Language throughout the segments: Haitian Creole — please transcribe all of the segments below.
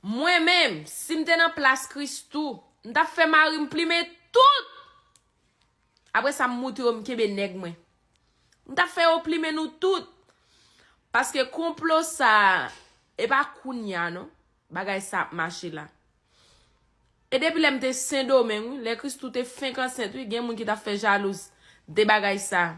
Mwen menm, si m te nan plas Christoo, m t ap fè mari m plimen tout! Apre sa m moute yo m kenbe nèg mwen. M t ap fè yo plimen nou tout! Paske konplo sa a, e pa kounya non, bagay sa ap mache la. E depi lè m te Sendomeng wi, lè Christoo te fenk ansent wi, gen moun ki t ap fè jalouz de bagay sa a.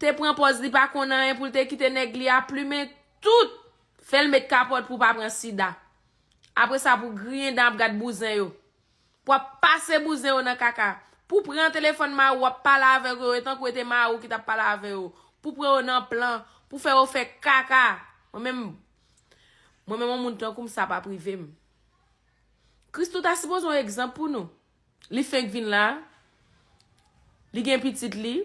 te pran pòz li pa konn anyen poul te kite nèg li a plumen tout fèl met kapòt pou pa pran sida apre sa pou griyen dan ap gad bouzen yo wap pase bouzen yo nan kaka pou pran telefòn mari w wap pale avèk yo e tankou e te mari w ki tap pale avè yo pou pran yo nan plan pou fè yo fè kaka mwen menm mwen menm yon moun tankou m sa pap rive m Christoo ta sipoze yon egzanp pou nou. Li fenk vin la, li gen pitit li,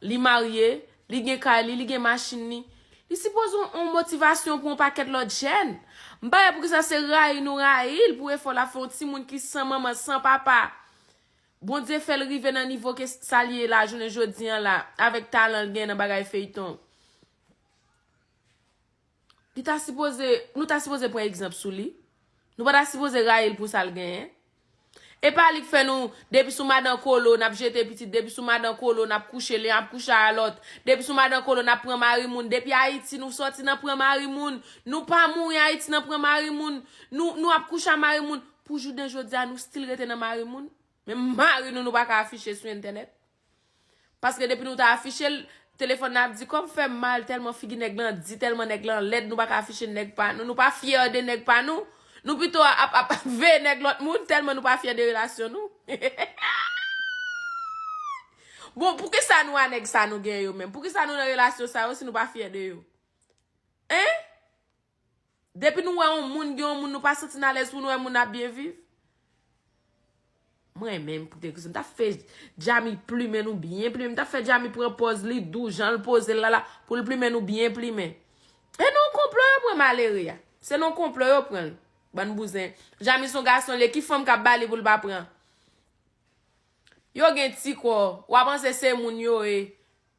li marye, li gen kay li, li gen machin li. Li sipoze yon motivasyon pou yon pakèt lòt jèn. M pa wè poukisa se rayi nou rayi l pou efò l ap fè yon timoun ki san manman, san papa. Bondye fè l rive nan nivo ke sa l ye la jounen jodi an la avèk talan l gen nan bagay feyton. Li ta sipoze, nou ta sipoze pran egzanp sou li. Nou pa ta sipoze rayi l pou sa l genyen. E pa li k fè nou, depi sou madan Kolo, n ap jete pitit, depi sou madan Kolo, n ap kouche, li ap kouche a lòt, depi sou madan Kolo, n ap pran mari moun, depi Ayiti nou sòti nan pran mari moun, nou pa mouri Ayiti nan pran mari moun, nou, nou ap kouche a mari moun, pou jounen jodi a nou stil rete nan mari moun? Menm mari nou nou pa ka afiche sou entènèt? Paske depi nou ta afiche l, telefòn nan ap di kò m fè m mal tèlman figi nèg lan di, tèlman nèg lan lèd nou pa ka afiche nèg pa nou, nou pa fyè de nèg pa nou, nou pito ap ap veye nèg lòt moun tèlman nou pa fyè de relasyon nou. Bon, poukisa nou a nèg sa nou gen yo menm? Poukisa nou nan relasyon sa yo si nou pa fyè de yo? Hein? Depi nou wè on moun gen on moun nou pa santi n alèz pou nou wè moun nan ap byen viv. Mwen renmen m pou kèk rezon. M ta fè Djamy plimen nou byen plimen. M ta fè Djamy pran pòz li dou jan l poze l la la pou l plimen nou byen plimen. E nan yon konplo yo pran malere a. Se nan yon konplo yo pran l. Bann bouzen. Djamy s on gason l ye. Ki fanm k ap ba li pou l pa pran? Yo gen ti kò. Ou a panse se moun yo ye.